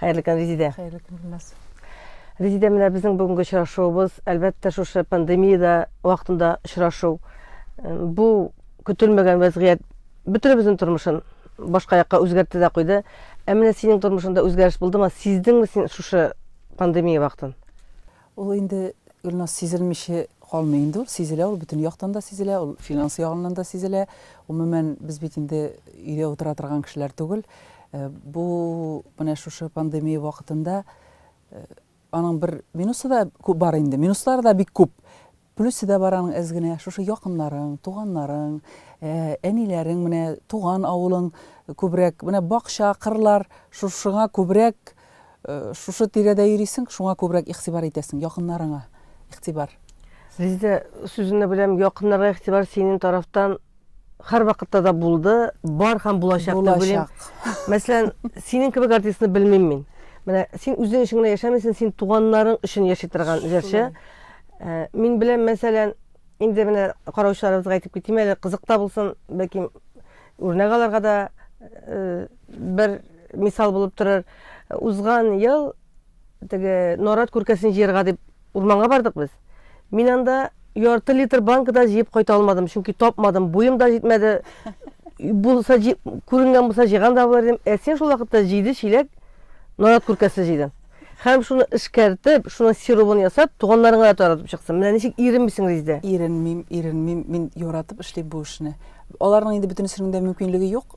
Хәерле көн, Резидә. Хәерле көн, Гөлназ. Резидә, менә безнең бүгенге очрашуыбыз, әлбәттә, шушы пандемияда вакытында очрашу. Бу көтелмәгән вәзгыять бөтенебезнең тормышын башка якка үзгәртте дә куйды. Ә менә синең тормышыңда үзгәреш булдымы? Сиздеңме син шушы пандемия вакытын? Ул инде, Гөлназ, сизелмичә калмый инде ул, сизелә ул, бөтен яктан да сизелә ул, финанс ягыннан да сизелә. Гомумән, без бит инде өйдә утыра торган кешеләр түгел. Бу менә шушы пандемия вакытында аның бер минусы да бар инде, минуслары да бик күп. Плюсы да бар аның әз генә, шушы якыннарың, туганнарың, әниләрең, менә туган авылың күбрәк, менә бакча, кырлар, шушыңа күбрәк, шушы тирәдә йөрисең, шуңа күбрәк игътибар итәсең, якыннарыңа игътибар. Резеда, сүзеңне бүләм, якыннарга игътибар синең тарафтан, Һәрвакытта да булды, бар һәм булачак дип уйлыйм. Булачак. Мәсәлән, синең кебек артистны белмим мин. Менә син үзең өчен генә яшәмисең, син туганнарың өчен яши торган җырчы. Э, мин беләм, мәсәлән, инде менә караучыларыбызга әйтеп китим әле, кызыкта булсын, бәлки үрнәк аларга да э, бер мисал булып торыр. Узган ел Теге нарат күркәсен җыярга дип урманга бардык без. Мин анда ярты литр банка да җыеп кайта алмадым, чөнки тапмадым, буем да җитмәде. Булса, күренгән булса җыйган да булыр идем. Ә син шул вакытта җиде чиләк нарат күркәсе җыйдың. Һәм шуны эшкәртеп, шуның сиробын ясап, туганнарыңа да таратып чыксын. Менә ничек иренмисең, Ризде? Иренмим, иренмим. Мин яратып эшлим бу эшне. Аларның инде бөтенесенең дә мөмкинлеге юк.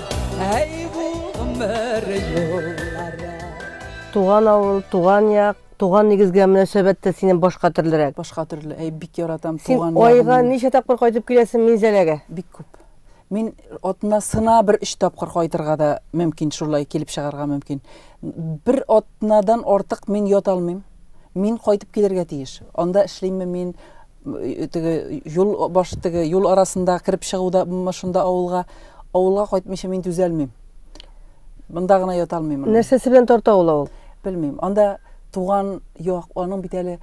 Әй бу гомер юллары. Туган авыл, туган як, туган нигезгә мөнәсәбәт тә синен башка төрлерәк. Башка төрле. Әй, бик яратам туган Син айга ничә тапкыр кайтып киләсең Минзәләгә? Бик күп. Мин атнасына бер өч тапкыр кайтырга да мөмкин, шулай килеп чыгарга мөмкин. Бер атнадан артык мин ята алмыйм. Мин кайтып килергә тиеш. Анда эшлиме мин, Теге юл баш теге юл арасында кереп чыгуда шунда авылга авылга кайтмыйча мин түзәлмим. Монда гына ята алмыйм. Нәрсәсе белән тарта ул авыл? Белмим. Анда туган як, аның бит әле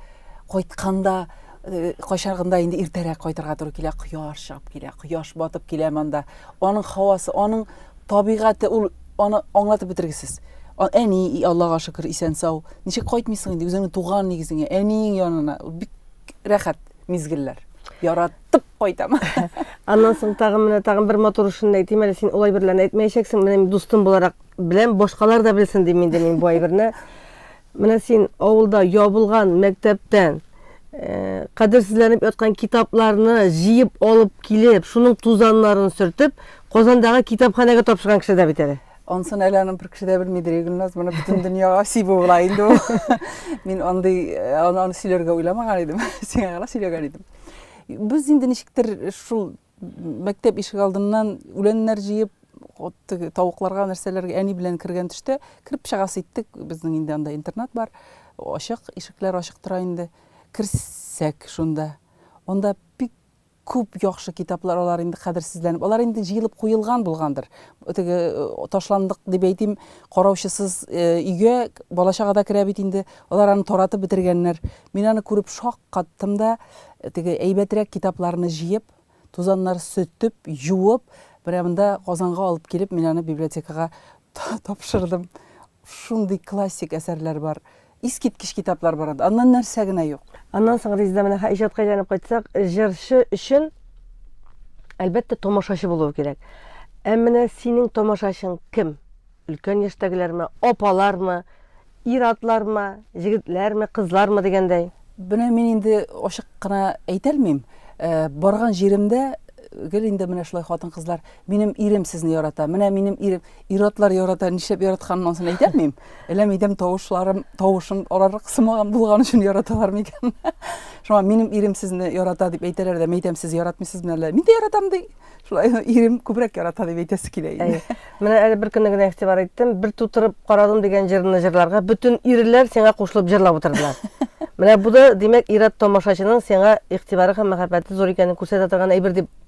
кайтканда Э, кайчагында инде иртәрәк кайтырга туры килә кояш чыгып килә кояш батып килә монда аның һавасы аның табигате ул аны аңлатып бетергесез әни аллага шөкер исән сау ничек кайтмыйсың инде үзеңнең туган нигезеңә әниең янына бик рәхәт мизгелләр. Яратып кайтам. Аннан соң тагын менә тагын бер матур эшен әйтим әле, син улай берлән әйтмәячәксең, менә мин дустым буларак беләм, башкалар да белсен дим инде мин бу әйберне. Менә син авылда ябылган мәктәптән э, кадерсезләнеп яткан китапларны җыеп алып килеп, шуның тузаннарын сөртеп, Казандагы китапханәгә тапшырган кеше дә бит әле. Ансын әле аны бер кеше дә белмидер, Игүлназ, моны бөтен дөньяга сибү була инде ул. Мин андый э, аны, аны сөйләргә уйламаган идем, сиңа гына сөйләгән идем. Без инде ничектер шул мәктәп ишек алдыннан үләннәр җыеп, теге тавыкларга нәрсәләргә әни белән кергән төштә кереп чыгасы иттек. Безнең инде анда интернат бар. Ачык, ишекләр ачык тора инде. Керсәк шунда. Анда бик Күп яхшы китаплар алар инде кадерсезләнеп, алар инде җыелып куелган булгандыр. Теге ташландык дип әйтим, караучысыз өйгә балачага да керә бит инде. Алар аны таратып бетергәннәр. Мин аны күреп шаккаттым да, теге әйбәтрәк китапларны җыеп, тузаннар сөтеп, юып, менә монда Казанга алып килеп, мин аны библиотекага тапшырдым. Шундый классик әсәрләр бар. Искиткеч китаплар бар анда. Аннан нәрсә генә юк. Аннан соң, Резеда, менә ха иҗатка әйләнеп кайтсак, җырчы өчен, әлбәттә, тамашачы булуы кирәк. Ә менә синең тамашачың кем? Өлкән яшьтәгеләрме, апалармы, ир-атлармы, җегетләрме, кызлармы дигәндәй? Менә мин инде ачык кына әйтә алмыйм. Барган җиремдә гел инде менә шулай хатын-кызлар, минем ирем сезне ярата, менә минем ирем. Ир-атлар ярата, нишләп яратканын ансын әйтәмим. Әллә минем тавышларым, тавышым аларны кысмаган булган өчен яраталар микән? Шуңа минем ирем сезне ярата дип әйтәләр дә, мәйтәм сез яратмыйсыз мин әллә. Мин дә яратам ди. Шулай ирем күбрәк ярата дип әйтәсе килә инде. Менә әле бер көнне генә игътибар иттем. Бер тутырып карадым дигән җырны җырларга бөтен ирләр сиңа кушылып җырлап утырдылар. Менә бу да, димәк, ир-ат тамашачының сиңа игътибары һәм мәхәббәте зур икәнен күрсәтә торган әйбер дип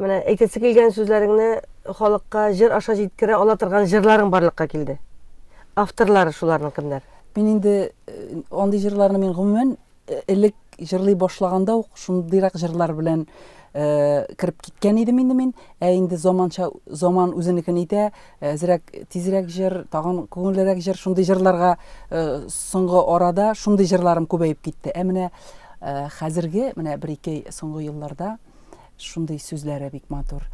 Менә әйтәсе килгән сүзләреңне халыкка җыр аша җиткерә ала торган җырларың барлыкка килде. Авторлары шуларның кемнәр? Мин инде андый җырларны мин гомумән элек җырлый башлаганда ук шундыйрак җырлар белән кереп киткән идем инде мин. Ә инде заманча заман үзенекен итә, әзрәк тизрәк җыр, тагын күңеллерәк җыр, шундый җырларга соңгы арада шундый җырларым күбәеп китте. Ә менә хәзерге менә бер-ике соңгы елларда Шундый сүзләре бик матур.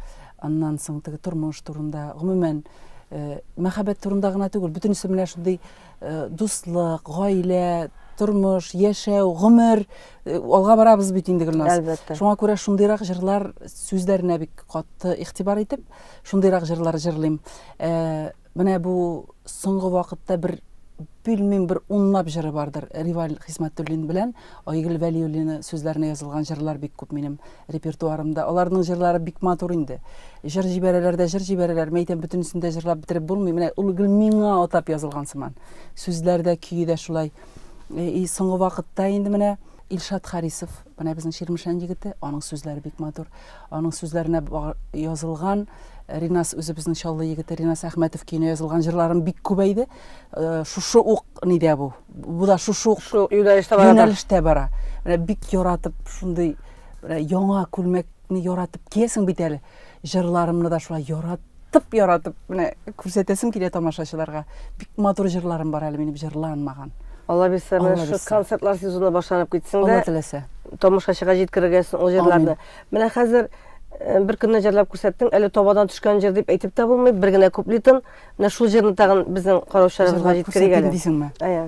Аннан соң теге тормыш турында, гомумән, э, мәхәббәт турында гына түгел, бөтенесе менә шундый э, дуслык, гаилә, тормыш, яшәү, гомер, э, алга барабыз бит инде Гөлназ. Әлбәттә. Шуңа күрә шундыйрак җырлар сүзләренә бик катты игътибар итеп, шундыйрак җырлар җырлыйм. Э, Менә бу соңгы вакытта бер билмим бер унлап җыры бардыр. Риваль Хисмәтуллин белән Айгөл Вәлиуллина сүзләренә язылган җырлар бик күп минем репертуарымда. Аларның җырлары бик матур инде. Җыр җибәрәләр дә җыр җибәрәләр. Мин әйтәм, бөтенесен дә җырлап бетереп булмый. Менә ул гел миңа атап язылган сыман. Сүзләр дә, көе дә шулай. И соңгы вакытта инде менә Илшат Харисов Менә безнең Чирмешән егете, аның сүзләре бик матур. Аның сүзләренә язылган Ринас үзе безнең Чаллы егете Ринас Әхмәтов көенә язылган җырларым бик күбәйде. Э, шушы ук нидә бу? Бу да шушы ук шул юнәлештә бара. Юнәлештә бара. Менә бик яратып шундый яңа күлмәкне яратып киясең бит әле. Җырларымны да шулай яратып, яратып менә күрсәтәсем килә тамашачыларга. Бик матур җырларым бар әле минем җырланмаган. Алла бирсә, менә шул концертлар сезоны башланып китсен дә. Алла теләсә. Тамашачыга җиткерергә ул җырларны. Менә хәзер э, бер көнне җырлап күрсәттең, әле табадан төшкән җыр дип әйтеп тә булмый, бер генә куплетын. Менә шул җырны тагын безнең караучыларыбызга җиткерик әле. Дисеңме? Әйе.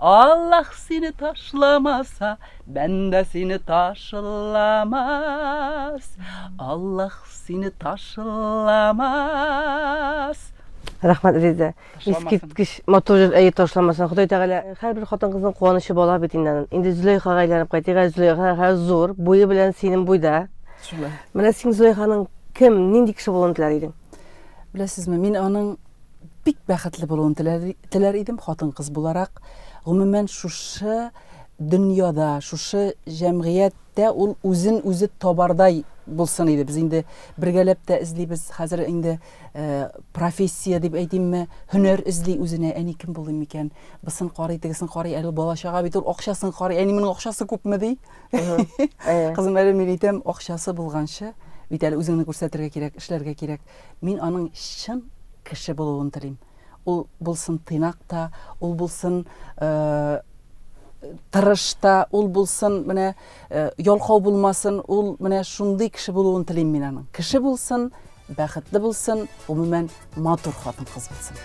Аллаһ сине ташламаса, бәндә сине ташламас. Аллаһ сине ташламас. Рәхмәт, Резидә. Искиткеч матур җыр, әйе ташламасын. Ходай Тәгалә һәрбер хатын-кызның куанычы бала бит инде. Инде Зөләйхага әйләнеп кайтыйк. Ә Зөләйха хәзер зур, буе белән синең буйда. Шулай. Менә син Зөләйханың кем, нинди кеше булуын теләр идең? Беләсезме, мин аның бик бәхетле булуын теләр, теләр идем хатын-кыз буларак. Гомумән шушы дөньяда, шушы җәмгыятьтә ул үзен үзе табардай булсын иде. Без инде бергәләп тә эзлибез. Хәзер инде э, профессия дип әйтимме, һөнәр эзли үзенә. Әни кем булыйм микән? Бысын карый, тегесен карый, әле бала чага бит ул акчасын карый. Әни моның акчасы күпме ди? Кызым әле мин әйтәм, акчасы булганчы бит әле үзеңне күрсәтергә кирәк, эшләргә кирәк. Мин аның чын кеше булуын телим. Ул булсын тыйнак та, ул булсын тырыш та, ул булсын менә ялкау булмасын, ул менә шундый кеше булуын телим мин аның. Кеше булсын, бәхетле булсын, гомумән, матур хатын-кыз булсын.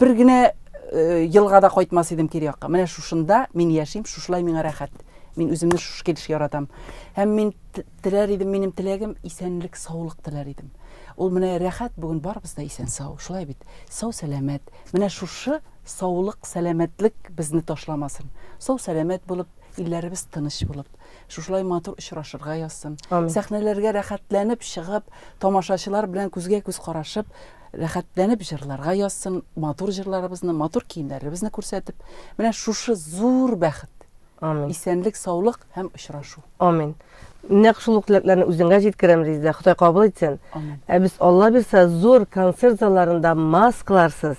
бер генә э, елга да кайтмас идем кире якка менә шушында мин яшим шушылай миңа рәхәт мин үземне шушы килеш яратам һәм мин теләр идем минем теләгем исәнлек саулык теләр идем ул менә рәхәт бүген барыбыз да исән сау шулай бит сау сәламәт менә шушы саулык сәламәтлек безне ташламасын сау сәламәт булып илләребез тыныч булып шушылай матур очрашырга язсын сәхнәләргә рәхәтләнеп чыгып тамашачылар белән күзгә күз карашып Рәхәтләнеп җырларга язсын, матур җырларыбызны, матур киемнәребезне күрсәтеп, менә шушы зур бәхет, Амин. исәнлек, саулык һәм очрашу. Амин. Нәкъ шул ук теләкләрне үзеңә җиткерәм, Резидә. Ходай кабул итсен. Амин. Ә без, Алла бирса, зур концерт залларында маскаларсыз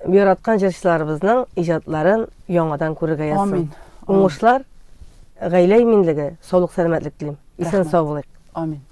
яраткан җырчыларыбызның иҗатларын яңадан күрергә язсын. Амин. Уңышлар, гаилә иминлеге, саулык-сәламәтлек телим. Исән-сау булыйк. Амин.